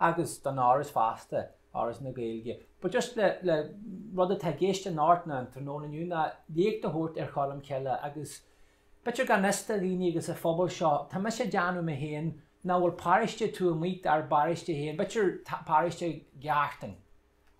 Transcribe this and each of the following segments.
agus don Áras fosta, Áras na Gaeilge. But just le, le, rud atá i gceist in Árt na an tráthnóna inniu ná léacht a thabhairt ar Cholm Cille agus b'fhéidir gan fhios do dhaoine agus sa phobal seo, tá mise ag déanamh mé féin nach bhfuil paráiste taobh amuigh dár bparáiste féin, b'fhéidir paráiste Ghartáin,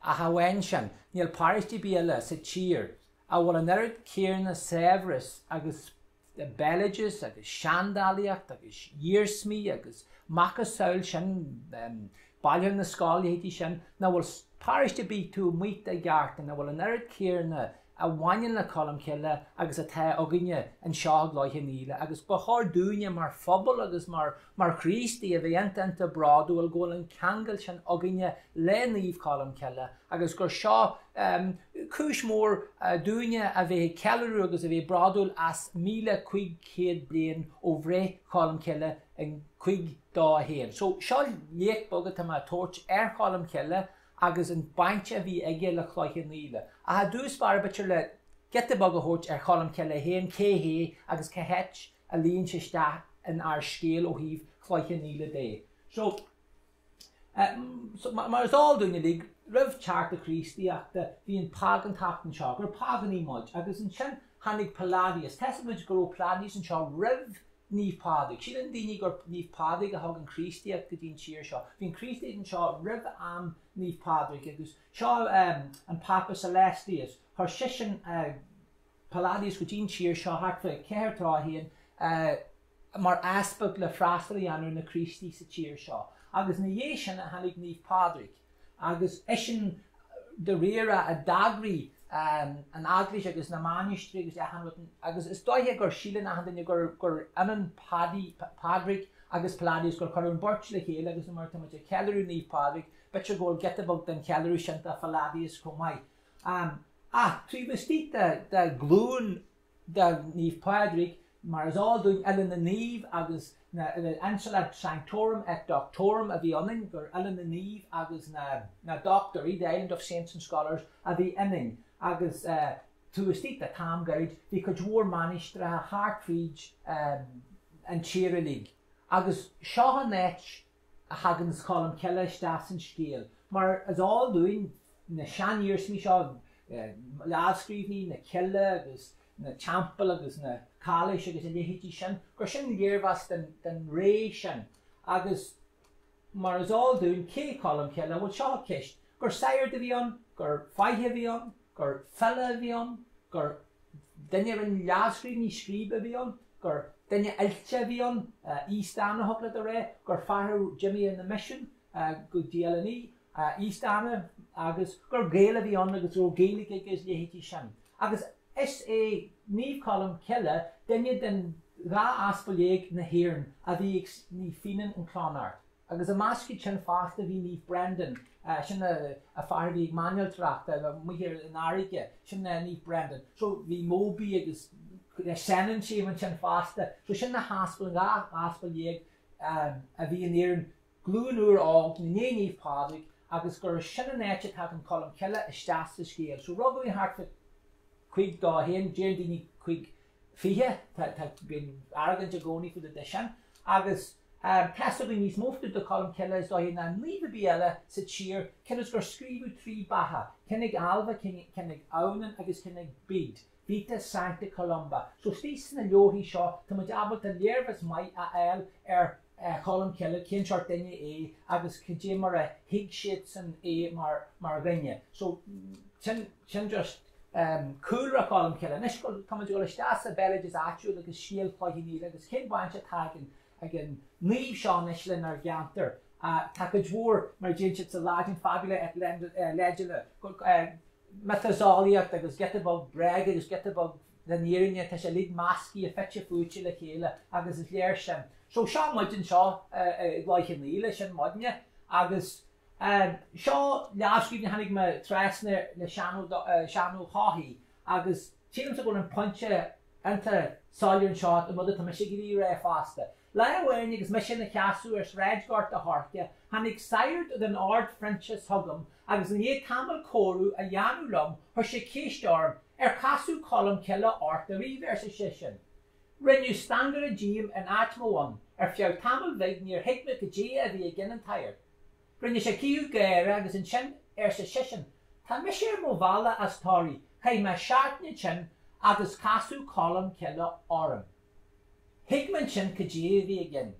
ach amháin sin, níl paráiste ar bith eile sa tír a bhfuil an oiread céarna saibhreas agus béaloideas agus seandálaíocht agus iarsmaí agus a mhacasamhail sin Bailiúchán na Scol, a leithéidí sin nach bhfuil paróiste ar bith taobh amuigh de Ghartán a bhfuil an oiread céarna a bhaineann le Colm Cille agus atá againne anseo i gCloich Cheann Fhaola agus ba chóir dúinne mar phobal agus mar Mar Chríostaithe a bheith iontach iontach bródúil go bhfuil an ceangal sin againne le Naomh Colm Cille agus gur seo cúis mór dúinne a bheith ag ceiliúradh agus a bheith bródúil as míle cúig chéad bliain ó bhreith Cholm Cille in cúig dó a haon. So seo léacht beag atá mé a thabhairt ar Cholm Cille agus an baint a bhí aige le Cloich Cheann Fhaola. Ach ar dtús b'fhearr b'fhéidir le giota beag a thabhairt ar Cholm Cille féin, cé hé agus cá háit a líon sé isteach in ár scéal ó thaobh Chloich Cheann Fhaola de. So mar is eol dúinn uilig, roimh teacht na Críostaíochta, bhí an págántacht anseo, gur págánaigh muid, agus ansin tháinig Palladius. Tá a fhios againn go raibh Palladius anseo roimh Naomh Pádraig. Síleann daoine gur Naomh Pádraig a thug an Chríostaíocht go dtí an tír seo. Bhí an Chríostaíocht anseo roimh am Naomh Pádraig agus seo an Pápa Celestius, chuir seisean Palladius go dtí an tír seo thart fá 431 mar easpag le freastal a dhéanamh ar na Críostaithe sa tír seo agus ina dhiaidh sin a tháinig Naomh Pádraig agus eisean dáiríre a d'eagraigh an eaglais agus na mainistrí agus achan rud agus is dóiche gur síleann achan duine gur gur ionann Padaí, Pádraig agus Palladius gur cuireadh an beirt le chéile agus nuair atá muid ag ceiliúradh Naomh Pádraig b'fhéidir go bhfuil giota beag den cheiliúradh sin de Phalladius chomh maith. Ach taobh istigh de ghlúin de Naomh Pádraig, mar is eol dúinn, Oileán na Naomh agus na, Insula Sanctorum et Doctorum a bhí ionainn, gur Oileán na Naomh agus na Dochtúirí, The Island of Saints and Scholars, a bhí ionainn. Agus taobh istigh d'am gairid bhí cuid mhór mainistreacha thart fríd an tír uilig. Agus seo an áit a thaganns Colm Cille isteach san scéal. Mar is eol dúinn, na seaniarsmaí seo, lámhscríbhinní na cille agus na teampall agus na cailís agus a leithéidí sin, gur sin léargas den ré sin agus mar is eol dúinn cé Colm Cille, bhuel seo ceist, gur sagart a bhí ann, gur fáidh a bhí ann, gur file a bhí ann, gur duine a rinne lámhscríbhinní, scríobhaí a bhí ann, gur duine oilte a bhí ann, East Anna thug le do ré, gur fear a d'imigh ar na misin go dtí Oileán Í, East Anna, agus gur Gael a bhí ann agus go raibh Gaeilge aige is a leithéidí sin. Agus is é Naomh Colm Cille duine den dhá aspal dhéag na hÉireann a bhí ag Naomh Finnian in Clonard. Agus i measc iad sin fosta bhí Naomh Brendan, sin an fear a bhí ag mairnéalacht amuigh ar an fharraige, sin Naomh Brendan. So bhí Mobhí agus Senan siad ansin fosta. So sin na haspail, an dhá aspal dhéag a bhí in Éirinn, glúin úr óg i ndiaidh Naomh Pádraig agus gur sin an áit a tagann Colm Cille isteach sa scéal. So rugadh é thart fá cúig dó haon, deir daoine cúig fiche, tá, bíonn argóint i gcónaí fá dtaobh de sin agus. Tá a fhios againn níos mó fá dtaobh de Cholm Cille is dóigh ná naomh ar bith eile sa tír, cionn is gur scríobhadh trí bheatha, ceann ag Ailbhe, ceann ag Adhamhnán agus ceann ag Bede, Vita Sancta Columba. So istigh sna leabharthaí seo tá muid ábalta léargas maith a fháil ar Cholm Cille, cén seort duine é agus cad é mar a thuig siadsan é mar dhuine. So sin just. Cúlra Cholm Cille Anois tá muid ag dul isteach sa bhéaloideas áitiúil agus scéal Chloich Cheann Fhaola agus cén baint atá ag an naomh seo anois lenár gceantar. Tá cuid mhór, mar a deir siad sa Laidin, fabula et legenda, miotaseolaíocht agus giota beag bréige agus giota beag den fhírinne, tá sé uilig meascaithe fite fuaite le chéile agus is léir sin. So seo muid anseo i gCloich Cheann Fhaola, sin muidne agus Seo lámhscríbhinn a tháinig mé trasna le Seán Ó hEochaidh agus sílimse go bhfuil an pointe iontach soiléir anseo an rud atá mise ag iarraidh a rá fosta. Lá amháin agus mise ina sheasamh ar Shráid Ghort a' Choirce tháinig sagart den Ord Phroinsiais chugam agus i ndiaidh tamaill comhrá a dhéanamh liom chuir sé ceist orm, 'Ar casadh Colm Cille ort ariamh? arsa seisean. Rinneadh stangaire díom in áit mo bhonn. Ar feadh tamaill bhig níor thuig mé cad é a bhí i gceann an tsagairt. Rinne sé draothadh gáire agus ansin arsa seisean, Tá mise ar mo bhealach as Toraí, chaith mé seachtain ansin agus casadh Colm Cille orm. Thuig mé ansin cad é a bhí i gceann.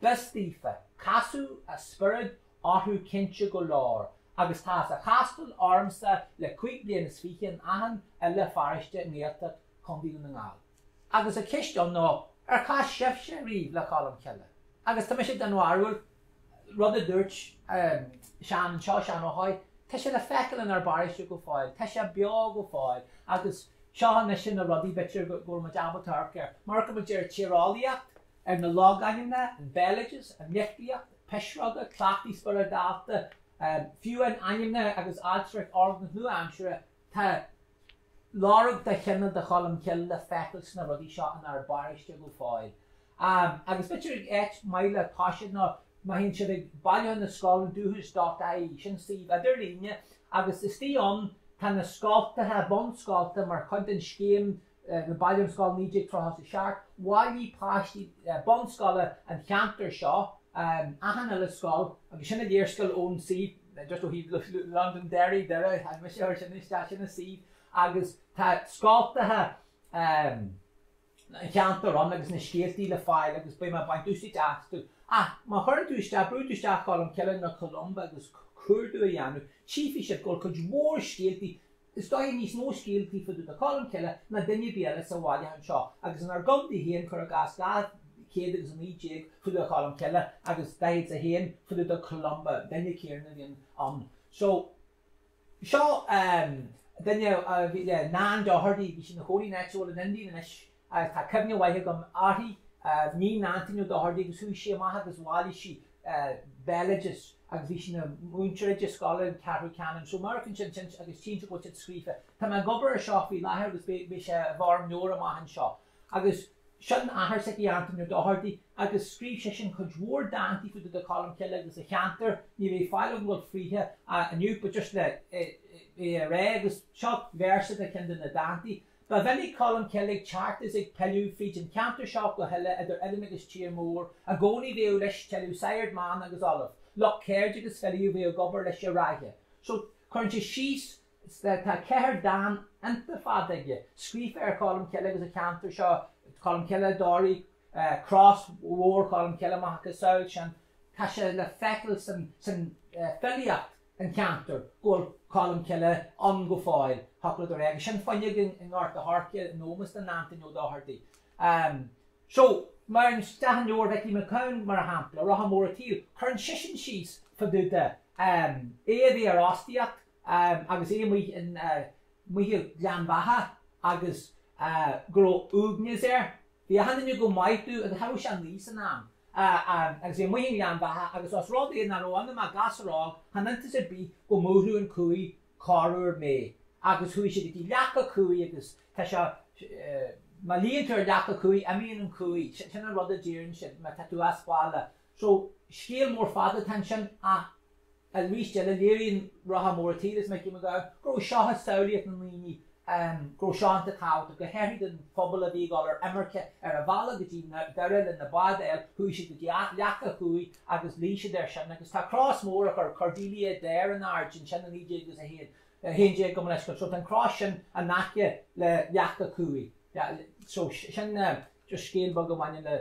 B'fhios daofa. Casadh a spiorad orthu cinnte go leor agus tá sé á chastáil ormsa le cúig bliana is fiche in achan uile pharáiste i nGaeltacht Chontae Dhún na nGall. Agus an cheist ann ná ar chas sibhse riamh le Colm Cille? Agus tá mise den bharúil, rud a dúirt Seán anseo, Seán Ó hEochaidh, tá sé le feiceáil inár bparáiste go fóill, tá sé beo go fóill agus seo anois na rudaí, b'fhéidir go bhfuil muid ábalta amharc air. Amharcann muid ar an tíreolaíocht, ar na logainmneacha, an béaloideas, an litríocht, pisreoga, cleachtaí spioradálta, fiú amháin ainmneacha agus ailtireacht ár nua-aimsire Tá lorg de chine de Cholm Cille le feiceáil sna rudaí seo inár bparóiste go fóill. Agus b'fhéidir gur áit mhaith le toiseacht nó má théann siad ag Bailiúchán na Scol, dúchas dot ie, sin suíomh idirlíne, agus istoigh ann tá na scoltacha, bunscoltacha mar chuid den scéim na Bailiúchán Scol 1937 bhailigh páistí bunscoile an cheantair seo achan uile scoil agus sin an léarscáil ón suíomh just ó thaobh Londonderry, Doire, tháinig mise air sin isteach, sin an suíomh agus tá scoltacha an cheantair ann agus na scéaltaí le fáil agus beidh mé ag baint úsáid astu ach má chuireann tú isteach, brúann tú isteach Colmcille nó Columba agus cuardú a dhéanamh, tchífidh sibh go bhfuil cuid mhór scéaltaí Is dóigh níos mó scéaltaí fá dtaobh de Cholm Cille ná duine ar bith eile sa bhailiúchán seo agus inár gcontae féin, cuir i gcás, 200 agus 19 fá dtaobh de Cholm Cille agus 41 fá dtaobh de Columba, duine céanna a bhíonn ann. So, seo duine a bhí le Nan Doherty, bhí sí ina cónaí in aice linn Indiana anois, Ach tá cuimhne mhaith agam uirthi. Iníon Antaine Ó Dochartaigh agus chuaigh sí amach agus bhailigh sí béaloideas agus bhí sí ina múinteoir i scoil an Cheathrú Cheanainn. So mar sin sin sin agus cinnte go bhfuil siad scríofa. Tá mé ag obair ar seo faoi láthair agus beidh sé i bhfoirm leabhair amach anseo. Agus seo a hathair sise Antaine Ó Dochartaigh agus scríobh seisean cuid mhór dántaí fá dtaobh de Cholmcille agus an cheantar. Ní bheidh faill agam a ghabháil fríothu inniu but just le rá agus seo véarsa de cheann de na dántaí. Ba mhinic Colmcille ag teacht is ag pilleadh fríd an cheantar seo go huile idir oileáin agus Tír Mór i gcónaí bhíodh leis tuilleadh sagart, manach agus ollamh, lucht ceirde agus filí a bhíodh ag obair leis i Ráithe. So, cuireann sé síos, tá ceithre dán iontach fada aige, scríofa ar Cholmcille agus an cheantar seo, Colmcille i dToraigh, Cros Mhór Cholmcille, macasamhail sin, tá sé le feiceáil san fhilíocht. an ceantar, go bhfuil Colmcille ann go fóill, thiocfadh leat a rá agus sin fuinneog i nGort a' Choirce in ómós do Antain Ó Dochartaigh. So, mar sin isteach i leabhar Mhicí Mac Gabhann, mar shampla, Rotha Mór a' tSaoil, cuireann seisean síos fá dtaobh de é a bheith ar fhostaíocht agus é amuigh i nGleann Bheatha agus go raibh uaigneas air Bhí achan duine go maith dó agus cha raibh sé ach naoi san am agus é amuigh i nGleann Bheatha agus os rud é nach raibh ionam ach gasúr óg chan iontas ar bith go mbuailfeadh an cumhaidh corruair mé agus chuaigh sé go dtí leac a' chumhaidh agus tá sé má luíonn tú ar leac a' chumhaidh imíonn an chumhaidh sin an rud a deireann siad má tá tú as baile So, scéal mór fada atá ansin ach arís eile léiríonn Rotha Mór an tSaoil is Micí Mac Gabhann go raibh seo i samhlaíocht na ndaoine, go raibh seo iontach tábhachtach. Go háithrid don phobal a bhí ag dul ar imirce ar a bhealach go dtí Doire le na báid a fháil chuaigh siad go dtí Leac na Cumhaí agus luigh siad air sin agus tá cros mór a chuir Cordelia Adair in airde ansin i 1901, 11 gabh mo leithscéal. So tá an cros sin in aice le Leac na Cumhaí. So sin just scéal beag a bhaineann le.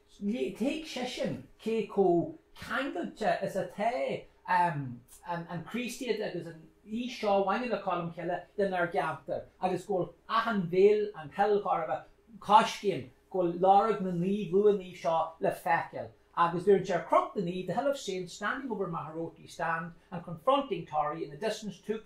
Thuig seisean cé chomh ceangailte is atá an Chríostaíocht agus an fhís seo a bhaineann le Colm Cille lenár gceantar agus go bhfuil achan mhil an Chill Ghairbhe coiscéim, go bhfuil lorg na naomh luanaí seo le feiceáil. Agus dúirt sé ar Chnoc na Naomh, The hill of saints, standing over Magheroarty strand and confronting Tory in the distance took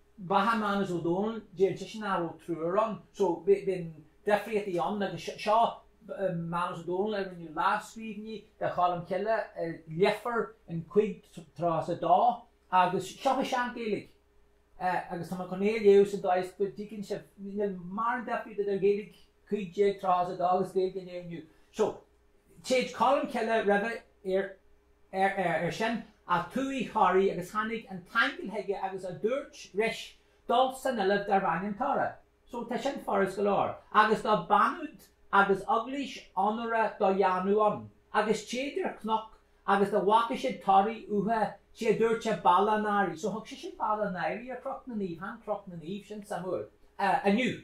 Beatha Mánas Ó Dónaill deireann seisean nach raibh triúr ann so bíonn difríochtaí ann agus seo Mánas Ó Dónaill a rinne lámhscríbhinní de Cholm Cille i Leifear in cúig déag tríocha is a dó agus seo i sean-Ghaeilge agus tá mé chun é a léamh sa dóigh is go dtuigeann sibh níl mórán difríocht idir Ghaeilge cúig déag tríocha is a dó agus Ghaeilge an lae inniu so Téid Colm Cille roimhe iar sin a Tuathaibh Thoraí agus tháinig an t-aingeal chuige agus a dúirt ris dul san oileán darbh ainm Tora. So tá sin furas go leor. Agus do beannughadh agus eaglais onórach do dhéanamh ann. Agus téid ar chnoc agus do bhfaca siad Toraí uatha sé a dúirt sé Bealach an Adhraidh. So thug seisean Bealach an Adhraidh ar Chnoc na Naomh. Chan Cnoc na Naomh, sin suimiúil. Inniu.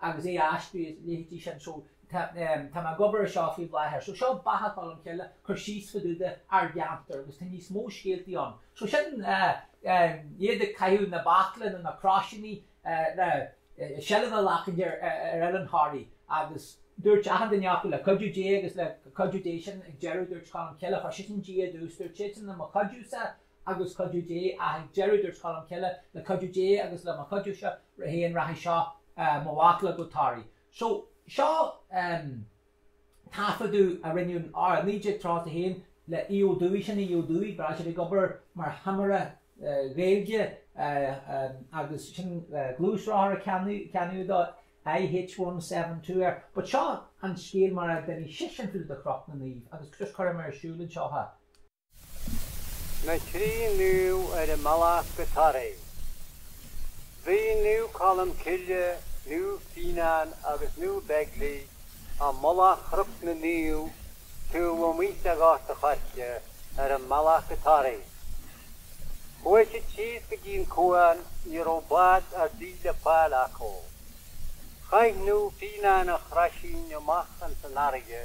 agus é a aistriú is a leithéidí sin. So tá mé ag obair ar seo faoi láthair. So seo Beatha Cholm Cille, cur síos fadúda ár gceantar agus tá níos mó scéaltaí ann. So sin iad ag caitheamh na bachlanna nó na croisíní le seilbh a ghlacaint ar Oileán Thoraí agus dúirt achan duine acu le cuidiú Dé agus le cuidiú Dé sin ag deireadh dúirt Colm Cille chuir seisean Dia i dtús, dúirt siadsan le mo chuidiúsa agus cuidiú Dé ach ag deireadh dúirt Colmcille, le cuidiú Dé agus le mo chuidiúsa féin rachaidh seo mo bhachall go Toraigh. So, seo taifeadadh a rinneadh in 1931 le Aodh Ó Dubhthaigh, sin é Aodh Ó Dubhthaigh, ba ghnách leis ag obair mar thimire Gaeilge agus sin gluaisrothar a ceannaíodh dó, IH172 air. But seo an scéal mar a d'inis seisean fá dtaobh de Chnoc na Naomh agus just cuirfidh mé ar siúl anseo é. na Trí Naomh ar a mbealach go Toraigh. Bhí Naomh Colm Cille, Naomh Fíonán agus Naomh Beaglaoich ar mhullach Chnoc na Naomh taobh amuigh de Ghort a' Choirce ar a mbealach go Toraigh. Chuaigh siad síos go dtí an cuan, ní raibh bád ar bith le fáil acu. Chaith Naomh Fíonán a chroisín amach ins an fharraige.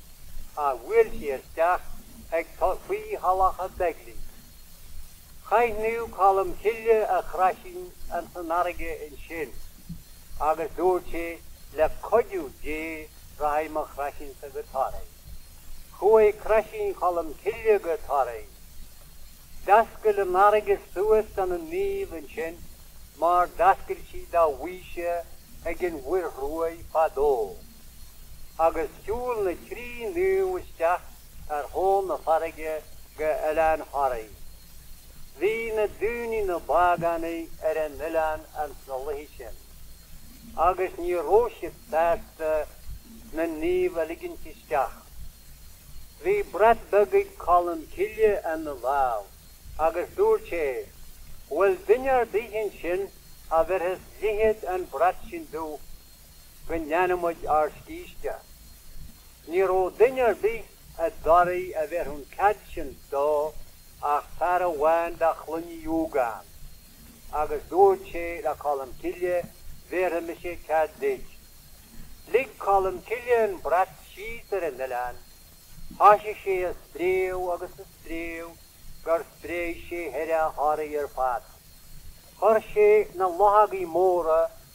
a bhuail sé isteach ag tosaí Thulacha Beigile. Chaith Naomh Colm Cille a chroisín ins an fharraige ansin agus dúirt sé le cuidiú Dé rachaidh mo chroisínsa go Toraigh. Chuaigh croisín Cholm Cille go Toraigh. D'fhoscail an fharraige suas dona naoimh ansin mar d'fhoscail sí do Mhaoise ag an Mhuir Ruaidh fadó. agus shiúil na trí naomh isteach ar thóin na farraige go Oileán Thoraí. Bhí na daoine ina bpágánaigh ar an oileán ins na laethe sin, agus ní raibh siad sásta na naoimh a ligint isteach. Bhí brat beag ag Colm Cille ina lámh agus dúirt sé Bhfuil duine ar bith ansin a bhéarfas leithead an brat sin domh? go ndéanfaidh muid ár scíste. Ní raibh duine ar bith i dToraigh a bhéarfadh an cead sin dó ach fear amháin de chloinn Uí Dhúgáin agus dúirt sé le Colm Cille bhéarfaidh mise cead duit. Lig Colm Cille an brat síos ar an oileán. Thoisigh sé a spréadh agus a spréadh gur spréigh sé thaire Thoraí ar fad. Chuir sé na luchógaí móra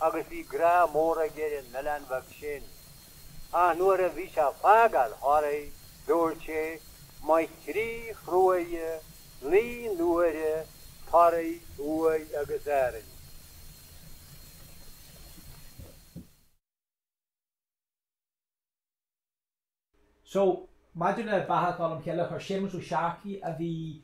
agus bhí grá mór aige ar an oileán bheag sin, ach nuair a bhí sé ag fágáil Thoraí dúirt sé Mo thrí thruaighe naoi n-uaire Toraigh, Uaigh agus Árainn. So, maidir le Beatha Cholm Chille, chuir Séamus Ó Searcaigh, a bhí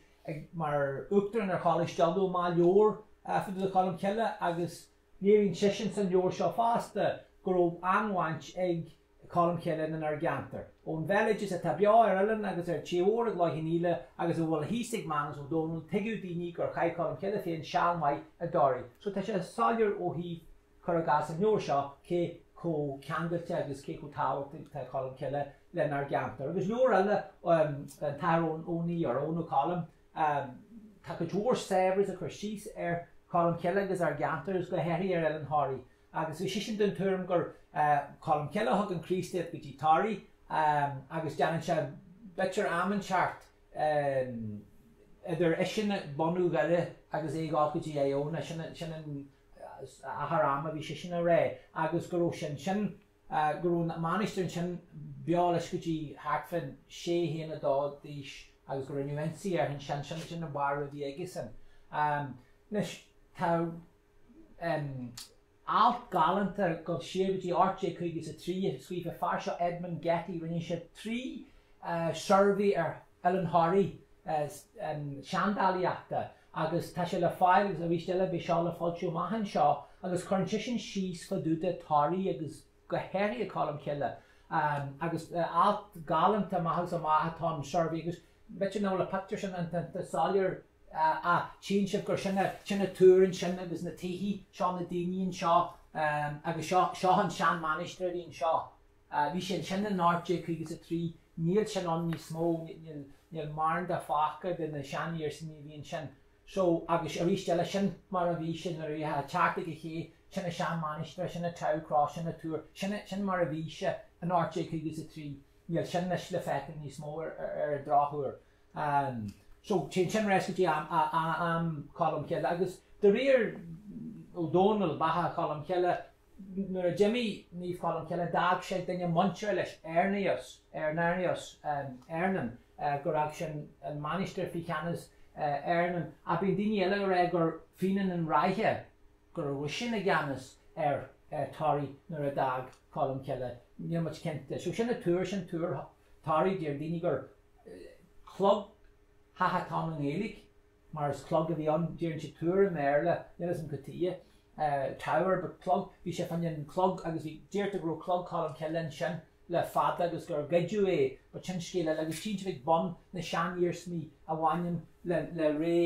mar Uachtarán ar Choláiste Uladh, amach leabhar fá dtaobh de Cholm Chille agus léiríonn seisean san leabhar seo fosta go raibh an-bhaint ag Colm Chille lenár gceantar. Ón bhéaloideas atá beo ar oileán agus ar tír mór i gCloich Cheann Fhaola agus a bhfuil thíos ag Mánus Ó Domhnaill tuigeadh daoine gur chaith Colm Chille féin seal maith i dToraigh so tá sé soiléir ó thaobh Cuir i gcás an leabhar seo, cé chomh ceangailte agus cé chomh tábhachtach atá Colm Cille lenár gceantar. Agus leabhar eile an tAthair Eoghan, an Athar Eoghan Ó Colm. Tá cuid mhór saibhreas ag cur síos ar Cholm Cille agus ár gceantar agus go háirithe ar Oileán Thoraí. Agus bhí seisean den tuairim gur Colm Cille a thug an Críostaíocht go dtí Toraigh agus déanann sé b'fhéidir am inteacht idir eisean ag bunú Dhoire agus é ag dul go dtí Iona. Sin an. achar ama a bhí sé sin ina ré agus go raibh sé ansin, go raibh an mainistir ansin beo leis go dtí thart fán sé haon a dó d'aois agus go raibh ionsaí air ansin, sin, sin an barúil a bhí aige-san. Anois, tá alt galánta dul siar go dtí 1853 a scríobh an fear seo Edmund Getty, rinne sé trí shuirbhé ar Oileán Thoraí seandálaíochta, Agus tá sé le fáil, agus arís eile beidh seo le foilsiú amach anseo, agus cuireann seisean síos fá dtaobh de Toraí agus go háirithe Colm Cille, agus alt galánta amach agus amach atá an suirbhé, agus b'fhéidir nach bhfuil an pictiúr sin iontach soiléir ach tchíonn sibh gur sin an túr ansin agus na tithe, seo na daoine anseo, agus seo seo an sean mainistir a bhí anseo. Ah, bhí sé ansin in 1853, níl sin ann níos mó, níl mórán de fágtha de na seaniarsmaí a bhí ansin. So, agus arís eile, sin mar a bhí sé nuair a bhí a' teacht ag an ché, sin an seanmhainistir, sin an Tau cross, sin an túr, sin, sin mar a bhí sé in 1853, níl sin anois le feiceáil níos mó ar an drochuair. Ahm, so, téann sin ar ais go dtí am, am Cholm Chille agus de réir Ó Dónaill, Beatha Cholm Chille, Nuair a d'imigh Naomh Colm Cille d'fhág sé duine muinteartha leis, Eirnéaus, Irenaeus, Eirnan, gur fhág sé an mainistir faoi cheannas Eirnan. Ach bíonn daoine eile ag rá gur Fionán an Ráithe, go raibh eisean i gceannas ar Thoraigh nuair a d'fhág Colm Cille, níl muid cinnte de. So sin an túr, sin túr Thoraí, deir daoine gur cloigtheach atá ann i nGaeilge. mar is clog a bhí ann, deireann siad túr i mBéarla, níl a fhios agam cad tuige, tower, but clog, bhí sé fan an clog agus bhí, deirtear go raibh clog Cholm Cille ansin le fada agus gur goideadh é but sin scéal eile agus tchíonn sibh ag bun na seaniarsmaí a bhaineann le, le ré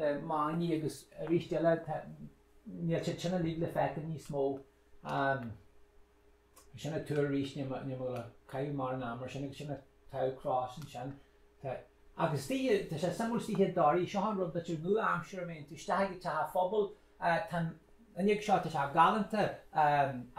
na manaigh agus aríst eile tá, níl siad sin uilig le feiceáil níos mó. Sin an túr arís níl mé ag gabháil a caitheamh mórán ama air sin agus sin an Tau cros ansin. Tá. Agus tithe, tá sé suimiúil istigh i dToraigh, seo an rud b'fhéidir nua-aimseartha má théann tú isteach ag teach an phobail, tá an fhuinneog seo, tá sé galánta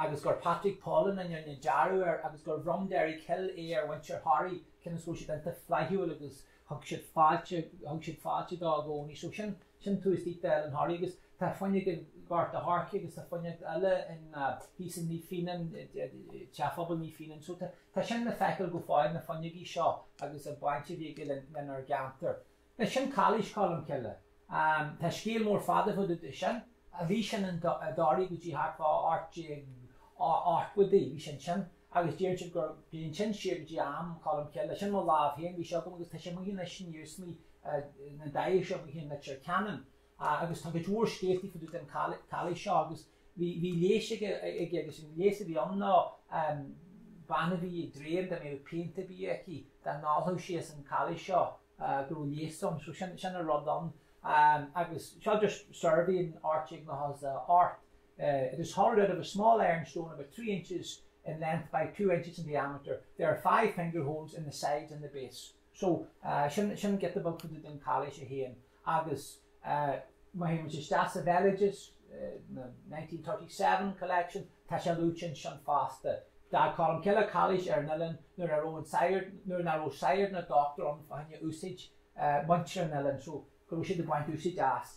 agus gur Patrick Pollen a rinne dearadh air agus gur bhronn Derek Hill é ar mhuintir Thoraí cionn is go raibh siad iontach flaithiúil agus thug siad fáilte, thug siad fáilte dó i gcónaí. So sin, sin tús dith do Oileán Thoraí agus tá fuinneog i nGort a' Choirce agus tá fuinneog eile in thíos in Naomh Fionán, Teach Phobail Naomh Fionán. So tá, tá sin le feiceáil go fóill na fuinneogaí seo agus an baint a bhí aige le, lenár gceantar. Anois sin Cailís Cholm Cille. Tá scéal mór fada fá dtaobh de sin. Bhí sin in, i dToraigh go dtí thart fá 1880idí, bhí sé ansin. agus deireann siad go mbaineann sin siar go dtí am Cholm Cille. Sin i mo lámh féin a bhí sé agam agus tá sé amuigh anois in iarsmaí na deoise amuigh i Leitir Ceanainn agus tá cuid mhór scéaltaí fá dtaobh den chailís seo agus bhí leigheas aige agus an leigheas a bhí ann ná bean a bhí ag dréim dá mbeadh pianta ar bith aici dá n-ólfadh sí as an chailís seo go raibh leigheas ann so sin an rud ann agus seo just suirbhé in áit éigin ó dheas. It is hollowed out of a small iron stone about three inches in length by two inches in diameter. There are five finger holes in the sides and the base. So, sin, sin giota beag fá dtaobh den chailís í féin agus má théimid isteach sa bhéaloideas, the nineteen thirty seven collection, tá sé luaite ansin fosta. D'fhág Colm Cille cailís ar an oileán nuair a raibh aon sagart, nuair nach raibh sagart ná dochtúr ann fá choinne úsáid muintir an oileáin, so go raibh siad ag baint úsáid as.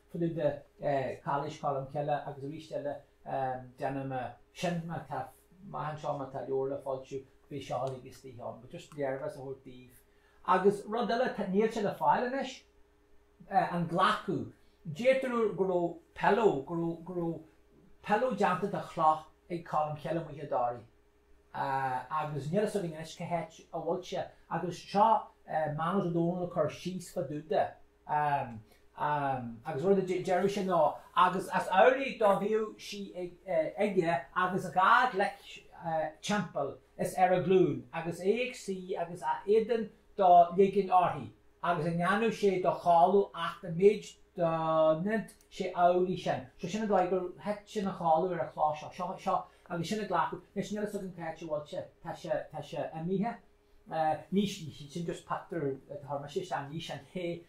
Tuilleadh de Chailís Cholm Cille agus arís eile déanaim sin má tá. Maith anseo má tá leabhar le foilsiú beidh seo uilig istigh ann. But just léargas a thabhairt daoibh. Agus rud eile, níl sé le fáil anois, an Glacach. Deirtear go raibh pillow, go raibh, go raibh pillow déanta de chloch ag Colm Cille, amuigh i dToraigh. agus níl fhios againn anois cá háit a bhfuil sé agus seo Manus Ó Dónaill ag cur síos fá dtaobh de agus rud a deireadh sé ná agus as amhlaidh do bhíodh sí aige agus a dhá ghlaic timpeall is ar a glún agus é ag suí agus a éadan do leigean uirthi agus ní dhéanadh sé do chodladh acht an méid do sé amhlaidh sin. So sin an dóigh gur thit sé ina chodladh ar an chloch seo. Seo, seo, agus sin an Glacach, anois níl fhios agam cá háit a bhfuil sé, tá sé, tá sé imithe. Ní, sin just pictiúr a chuir mise isteach, ní shin é.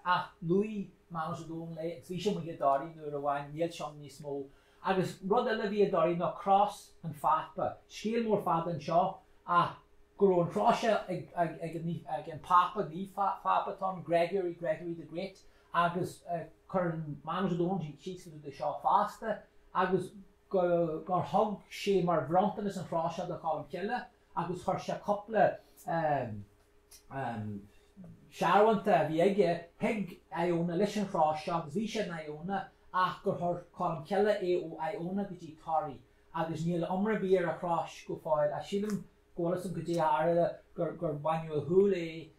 Ach luaigh Manus Ó Dónaill é agus bhí sé amuigh i dToraigh uair amháin, níl sé ann níos mó. Agus rud eile a bhí i dToraigh ná Cros an Phápa. Scéal mór fada anseo ach go raibh an chrois seo ag an Phápa, Naomh Phápa atá ann, Gregory, Gregory the Great. agus cuireann Manus Ó Dónaill síos fá dtaobh de seo fosta, agus gur thug sé mar bhronntanas an chrois seo do Cholm Cille agus chuir sé cúpla searbhónta a bhí aige chuig Iona leis an chrois seo agus bhí siad in Iona ach gur chuir Colm Cille é ó Iona go dtí Toraigh agus níl iomrá ar bith ar an chrois go fóill ach sílim go bhfuil fhios agam caidé a tharla gur baineadh ar shiúl é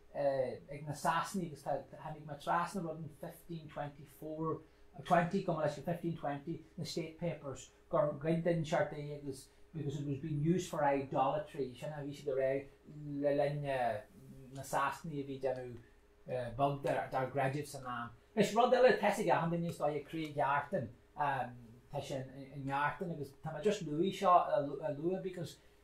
ag na Sasanaigh agus tháinig mé trasna rud in fifteen twenty four, twenty, cuma leis, fifteen twenty, na State Papers, gur ghoid Dinseart é agus because it was being used for idolatry, sin é, bhí siad a rá le linn na Sasanaigh a bhí ag déanamh beag dár gcreideamh san am. Anois rud eile, tá's ag achan duine is dóigh, Cré Ghartáin, tá sé i nGartán agus tá mé just luaigh seo a lua because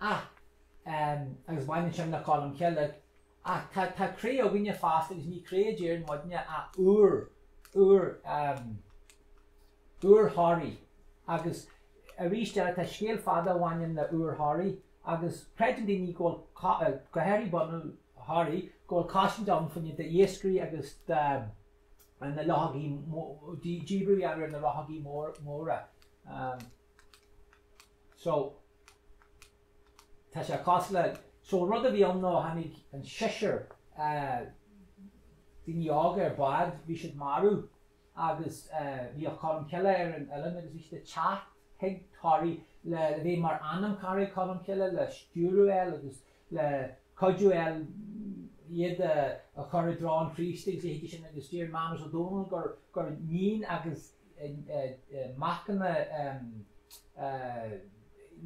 Ach, em, agus baineann sin le Colm Cille, ach tá, tá cré againne fosta agus ní cré a deireann muidne ach úir, úir, em, úir Thoraí agus arís eile tá scéal fada a bhaineann le úir Thoraí agus creideann daoine go bhfuil cá, eh, go háirithe bunadh Thoraí, go bhfuil cosaint ann fá choinne iascairí agus de, an na luchógaí mó, díbirt a dhéanamh ar na luchógaí mór, móra. Um, so, Tá sé cosúil le, so an rud a bhí ann ná tháinig an seisear daoine óga ar bád, bhí siad marbh agus bhíodh Colm Cille ar an oileán agus bhí siad ag teacht chuig Toraí le bheith mar anamchara ag Colm Cille le stiúradh a fháil agus le cuidiú a fháil iad a chur i dtreo an Chríost agus a leithéid sin agus deir Mánas Ó Dónaill gur níon agus Macanna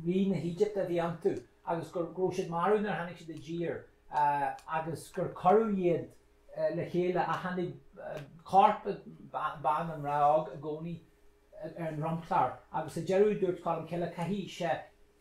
rí na hÉigipte a bhí iontu agus go raibh siad marbh nuair a tháinig siad i dtír agus gur cuireadh iad le chéile ach tháinig corp bean, an mná óg i gcónaí ar an dromchlár agus sa deireadh dúirt Colm Cille caithfidh sé,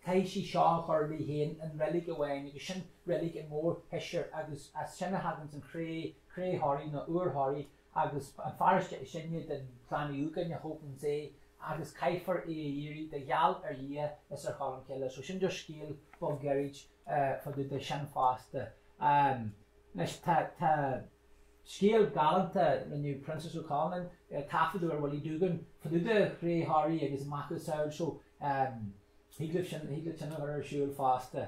caithfidh sí seo a chur leí féin i reilig amháin agus sin reilig an Mhórsheisir agus as sin a thaganns an chré, cré Thoraí nó úir Thoraí. Agus an fear is sine den chlann Uí Dhúgáin a thóganns é agus caithfear é a iarraidh de gheall ar Dhia is ar Cholm Cille. So sin just scéal beag gairid fá dtaobh de sin fosta. Anois tá scéal galánta, rinne Proinsias Ó Conluain taifeadadh ar Willie Doogan fá dtaobh de chré Thoraí agus a macasamhail so thig libh sin, thig leat sin a chur ar siúl fosta.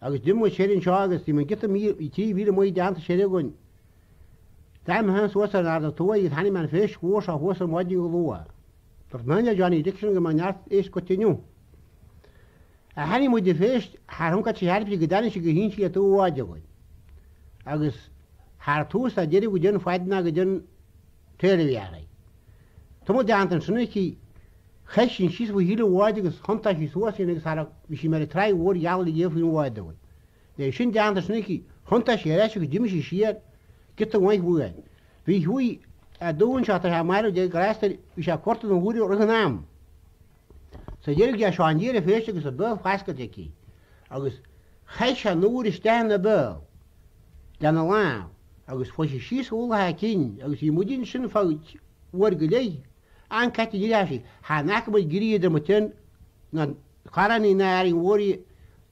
Agus d'imigh sé ar an seó agus bhí an giota míle, trí mhíle maith deánta siar againn. D'amharc mé féin suas ar an aird ó thuaidh agus chonaic mé an phéist mhór seo thuas ar maidin go luath. Dúirt mé le Johnny Dixon go mbeadh neart éisc goidte inniu. Chonaic muid an phéist thar thonn caite theirpe go dtáinig sí go híseal le taobh an bháid againn. Agus thar tús tá deireadh go dtionn faid ná go dtionn. Téir a Mhearaí. Tá muid deánta ansin aici. Chaith sí an síos faoi chíle an bháid agus thiontaigh sí suas í agus thar a bhí sí mar a tráigh mhór gheal ag iamh faoin bhád dúinn. Bhí é sin deánta ansin aici, thiontaigh sí ar ais agus d'imigh sí siar, giota mhaith uainn. Bhí Hughie Doohan seo atá sé marbh, Dia grásta air, bhí sé ag cuartú na húire roimh an am. Sa deireadh d'fhéach Seán di ar an phéist agus a béal foscailte aici agus chaith sé an úir isteach ina béal lena lámh agus chuaigh sí síos ar mhullach a cinn agus bhí muid ansin fá uair go leith an-caite ag rince thart. Chonaic mé ag éirí idir mo cheann na caránaí ná Árainn Mhór í a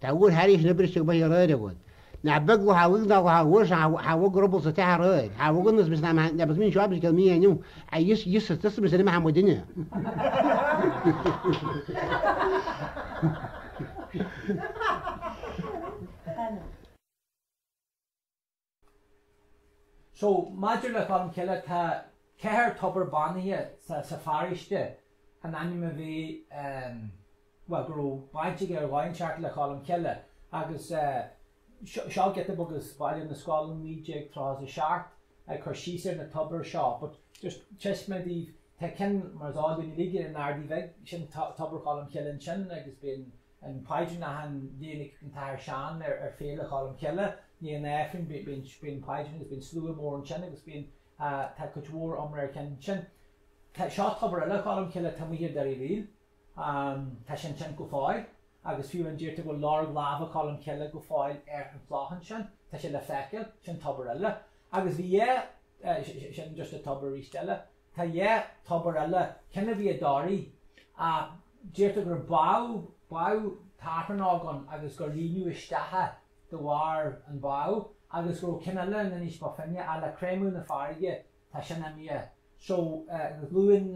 Tá uair thairis na briseadh amuigh aréir agat. Nach beag lá tháinig ná lá uairse tháinig ruball sa teach aréir. Tháinig an is ná meán agus mín seo agus go mín inniu a fhios fhios is tusa is inniu a tháinig duine. So, maidir le Cholm Cille, tá ceithre tobar beannaithe sa, sa pharóiste, an ainm a bhí, ehm, bhuel, go raibh baint aige ar dhóigh inteacht le Cholm Cille, agus, eh, seo, seo giota beag as Bailiú na Scol in 1937, ag cur síos ar na tobair seo, but just taispeánfaidh mé daoibh, tá ceann, mar is eol dúinn uilig, in Ardaidh Bheag, sin to, tobar Cholm Cille ansin, agus bíonn, An Paidrín ann achan, déanann an tAthair Seán ar Féile Cholm Cille i ndiaidh an Aifrinn bíonn an Paidrín agus bíonn slua mór ansin agus bíonn tá cuid mhór iomrá ar cheann sin. Seo tobar eile Cholm Cille taobh thiar Doire Uí Fhríl. Tá sé ansin go fóill agus fiú amháin deirtear go bhfuil lorg lámha Cholm Cille go fóill ar an chloch ansin. Tá sé le feiceáil. Sin tobar eile. Agus bhí sin just tobar arís eile. Tá dhá tobar eile ceann a bhí i dToraigh ach deirtear gur bádh, bádh tachrán óg ann agus gur líonadh isteach é de bharr an bhá agus go raibh ceann eile in Inis Bó Finne ach le creimeadh na farraige tá sin imithe so luann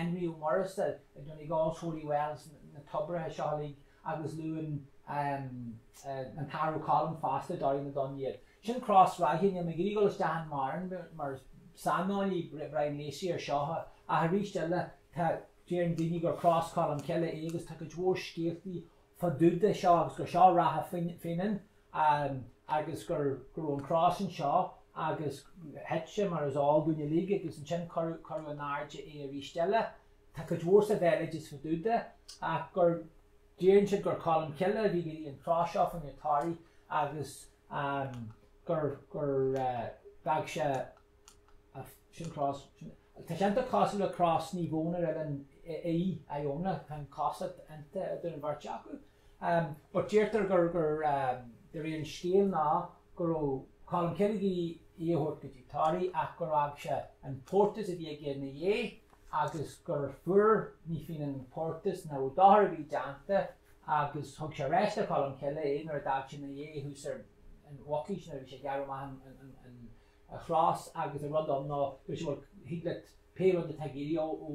Énrí Ó Muirgheasa i, i, Donegal's Holy Wells na toibreacha seo uilig. agus luann an tAthair Ó Colm fosta, Toraigh na dTonn, iad. Sin Cros Ráithe, níl mé ag iarraidh dul isteach ann mórán mar saineolaí, Brian Lacey, ar seo, ach arís eile, tá, deireann daoine gur Cros Colm Cille é agus tá cuid mhór scéaltaí fá dtaobh de seo agus gur seo Ráithe Fhionáin agus go raibh an cros anseo agus thit sé mar is eol dúinn uilig agus ansin cuireadh in airde é arís eile Tá cuid mhór sa bhéaloideas fá dtaobh de ach gur deireann siad gur Colm Cille a bhí an chros seo fá choinne Toraigh agus gur d'fhág sé sin cros. Tá sé iontach cosúil le cros Naomh Eoin ar oileán Í, Iona, tá an-chosúlacht idir an bheirt acu. But deirtear gur de réir an scéil ná go raibh Colm Cille ag iarraidh í a thabhairt go dtí Toraigh ach gur fhág sé an portús a bhí aige ina dhiaidh agus gur fuair Naomh Fionán portús nó dochar a bhí déanta agus thug sé aríst do Cholm Cille é nuair a d'fhág sé 'na dhéidh thuas ar an Mhucais nuair a bhí sé ag gearradh amach an chros agus an rud ann ná dúirt sé bhuel thig leat pé rud atá tú ag iarraidh ó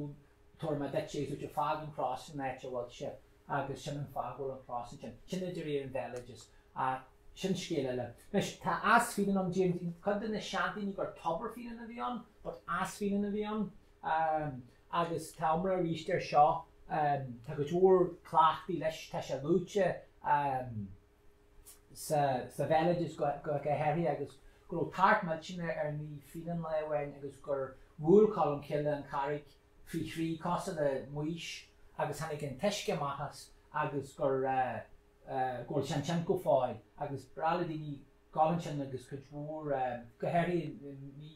tabharfaidh mé duit é is dúirt sé fág an chros san áit a bhfuil sé. agus sin an fáth go bhfuil an chros ansin. Sin de réir an bhéaloideas ach sin scéal eile. Anois, tá Eas Fíonáin ann, deir cuid de na seandaoine gur Tobar Fíonáin a bhí ann but Eas Fíonáin a bhí ann agus tá iomrá aríst air seo, tá go leor cleachtaí leis, tá sé luaite sa bhéaloideas go háirithe agus go raibh tart millteanach ar Naomh Fíonán lá amháin agus gur bhuail Colm Cille an charraig Faoi thrí cosúil le Maois agus tháinig an t-uisce amach as agus gur, go bhfuil sé ansin go fóill agus ba ghnách le daoine dul ansin agus cuid mhór, go háirithe i mí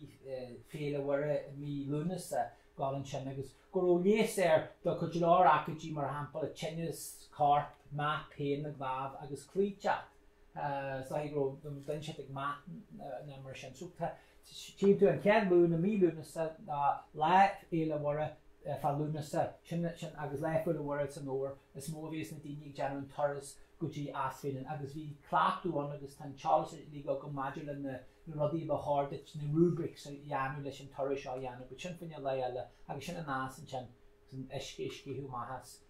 Féile Mhuire i mí Lúnasa, dul ansin agus go raibh leigheas air do go leor aicídí, mar shampla Tinneas Coirp, Meath, Pian na gCnámh agus Cloíteacht. Sin go raibh an duine sin ag meath ná mar sin. So tá tchíonn tú an chéad Luan i mí Lúnasa ná Lá Fhéile Mhuire fá Lúnasa sin sin agus Lá Fhéile Mhuire san Fhómhar is mó a bhíos na daoine ag déanamh an turas go dtí Eas Fíonáin agus bhí cleachtadh ann agus tá an t-eolas uilig agam maidir le na na rudaí a ba chóir duit na rubrics a dhéanamh leis an turas seo a dhéanamh but sin fá choinne lae eile agus sin an eas ansin is an uisce ag sceitheadh amach as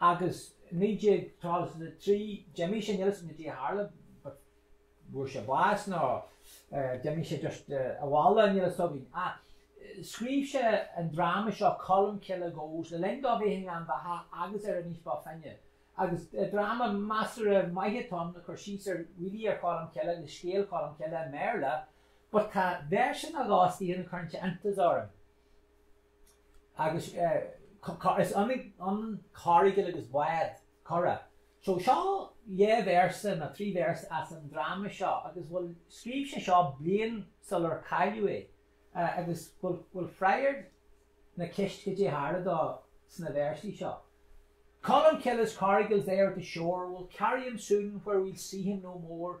Agus 1933 d'imigh sé, níl 'fhios a'm cad é a tharla but bhfuair sé bás nó d'imigh sé just abhaile, níl 'fhios againn. Ach scríobh sé an dráma seo Colm Cille Goes le linn dó bheith i nGleann Bheatha agus ar Inis Bó Finne. Agus dráma measartha maith atá ann ag cur síos ar really ar Cholm Cille agus scéal Cholm Cille i mBéarla but tá véarsa nó dhó istigh ann a chuireann sé iontas orm. Agus is ionann coracle agus bád, curach. So seo dhá véarsa nó trí véarsa as an dráma seo agus bhuel scríobh sé seo bliain sular cailleadh é agus bhfuil freagairt na ceist cad é tharla dó sna véarsaí seo. Colmcille's coracle's there at the shore, will carry him soon where we'll see him no more,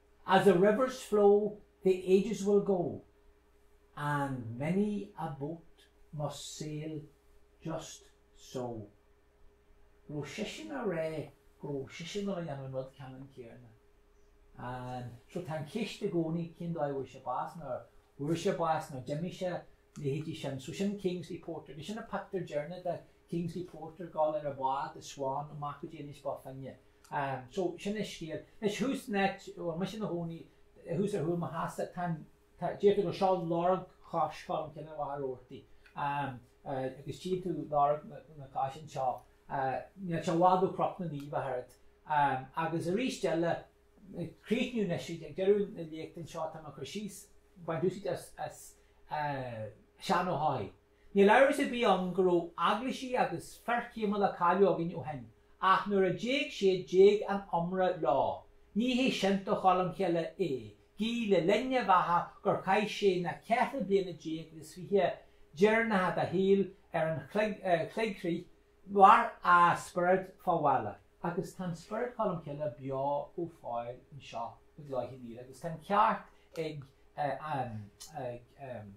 As the rivers flow the ages will go and many a boat must sail just so. Go raibh seisean ag rá go raibh seisean ag dul a dhéanamh an rud ceannann céarna. And so tá an ceist i gcónaí cén dóigh a bhfuair sé bás nó ar fuair sé bás nó d'imigh sé, leithéidí sin. So sin Kingsley Porter agus sin an pictiúr deireanach de Kingsley Porter dul ar a bhád, The Swan, amach go dtí Inis Bó Finne. Aaa so sin é scéal. Anois thuas in áit a bhfuil mise ina chónaí, thuas ar Thuama Theas, tá an, tá, deirtear gur seo lorg chos Cholm Cille i Machaire Rabhartaigh. Aaa agus tchíonn tú lorg na, na coise anseo. Aaa níl sé i bhfad ó Chnoc na Naomh ach oiread. Aaa agus aríst eile, ag críochnú anois, ag deireadh na léachta anseo, táim ag cur síos, baint úsaid as, as aaa Seán Ó hEochaidh. Níl amhras ar bith ann go raibh eaglaisigh agus fir chéimiúla cháiliúla againn ó shin, ach nuair a d'éag siad d'éag a n-iomrá leo. Ní hé sin do Cholm Chille é, gí le linn a bheatha gur chaith sé na ceithre bliana déag is fiche deireanacha dá shaol ar an choigrích, mhair a spiorad fá bhaile. Agus tá an spiorad Cholm Cille beo go fóill anseo i gCloich Cheann Fhaola agus tá an ceart ag an.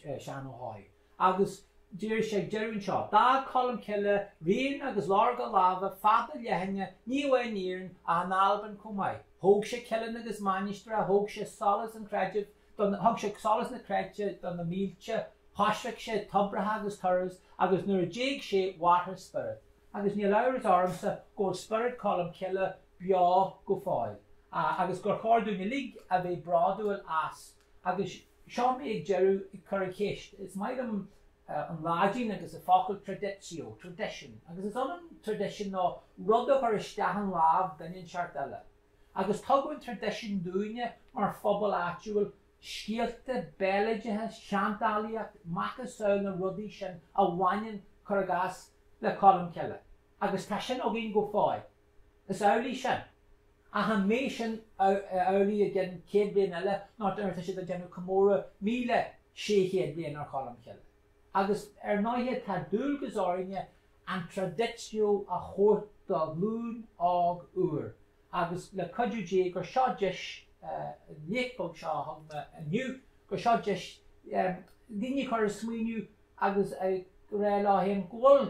Seán Ó hEochaidh, agus deir sé ag deireadh anseo, 'D'fhág Colmcille rian agus lorg a láimhe fada leathan ní amháin in Éirinn ach in Albain chomh maith. Thóg sé cillín agus mainistreacha, thóg sé solas an chreidimh do na, thug sé solas na creidte do na mílte, choisric sé toibreacha agus turas, agus nuair a d'éag sé mhair a spiorad. Agus níl amhras ormsa go bhfuil spiorad Cholmcille beo go fóill agus gur chóir dúinn uilig a bheith bródúil as. Agus seo mé ag deireadh ag cur an cheist. Is maith liom an Laidin agus an focal traditio, tradition. Agus is ionann tradition nó rud a chur isteach in lámh duine inteacht eile. Agus tugadh an tradition dúinne mar phobal áitiúil, scéalta béaloideasa, seandálaíocht, macasamhail na rudaí sin a bhaineann, cur i gcás, le Colmcille. Agus tá sin againn go fóill. Is amhlaidh sin. Ach an mbeidh sin amhlaidh i gcionn céad bliain eile nó nuair atá siad ag déanamh comóradh míle sé chéad bliain ar Cholm Chille? Agus ar ndóighe tá dualgas orainne an traditio a thabhairt do ghlúin óg úr agus le cuidiú Dé gur seo deis léacht beag seo a thug mé inniu, gur seo deis daoine a chur ag smaoineamh agus ag rá leo féin go bhfuil